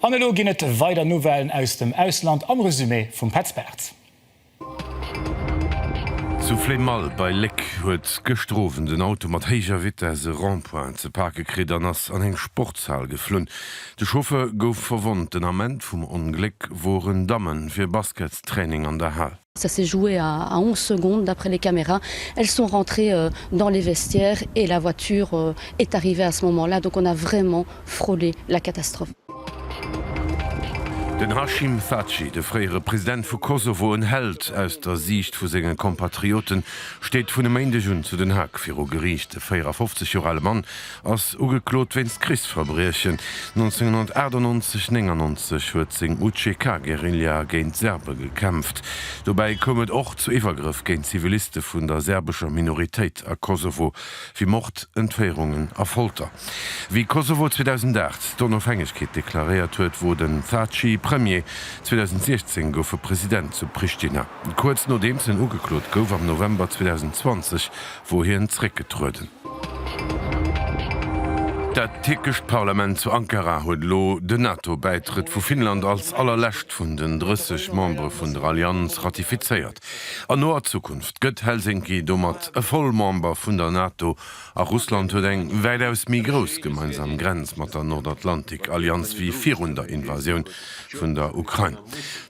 An elo ginn et weider Nouvellen aus dem Ausland am Resumé vum Petz Bartz. Zu Flémalle bei Léck huet gëschter Owend en Auto mat héijer Vitess e Rond-point ze pake kritt an ass an eng Sportshal geflunn. De Chauffeur gouf verwonnt. Den Ament vum Ongléck woren Damme fir Basketstraining an der Hal. Ça s'est joué à à 11 secondes d'après les caméras. Elles sont rentrées dans les vestiaires et la voiture est arrivée à ce moment-là, donc on a vraiment frôlé la catastrophe. Den Hashim Thaçi, de fréiere President vu Kosovo, en Held aus der Siicht vu senge Compatrioten, steet vun e Méindeg un zu Den Haag viru Geriicht. De 54 Joer ale Mann ass ugeklot wéinst Krichsverbriechen. 1998, 99 huet seng UCK-Guerilla géint Serbe gekämpft. Dobäi koum et och zu Iwwergrëff géint Ziviliste vun der serbescher Minoritéit a Kosovo, wéi Mord, Entféierungen a Folter. Wéi Kosovo 2008 d'Onofhängegkeet deklaréiert huet, wor den Thaçi Premier. 2016 gouf e President zu Prishtina. Kuerz nodeems en ugeklot gouf, am November 2020, wor hien zeréckgetrueden. Dat tierkescht Parlament zu Ankara huet elo den NATO-Bäitrëtt vu Finnland als allerlescht vun den 30 Membere vun der Allianz ratifizéiert. An noer Zukunft gëtt Helsinki domat e Vollmember vun der NATO a Russland huet eng wäitaus méi grouss gemeinsam Grenz mat der Nordatlantik-Allianz wéi virun der Invasioun vun der Ukrain.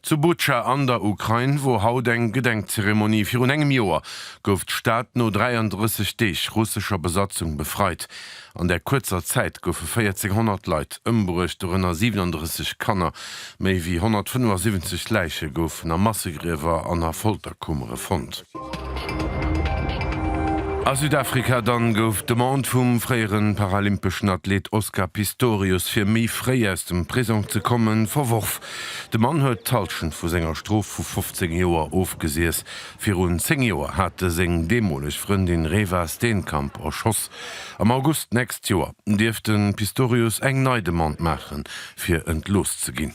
Zu Butscha an der Ukrain wor haut eng Gedenkzeremonie virun engem Joer gouf d'Stad no 33 Deeg russescher Besatzung befreit. An där kuerzer Zäit goufe 1.400 Leit ëmbruecht, dorënner 37 Kanner. Méi wéi 175 Läiche goufen a Massegriewer an a Folterkummere fonnt. A Südafrika dann gouf d'Demande vum fréiere paralympeschen Athleet Oscar Pistorius, fir méi fréi aus dem Prisong ze kommen, verworf. De Mann huet d'Hallschent vu senger Strof vu 15 Joer ofgesiess. Virun 10 Joer hat e seng deemoleg Frëndin Reeva Steenkamp erschoss. Am August nächst Joer dierft de Pistorius eng nei Demande maachen, fir entlooss ze ginn.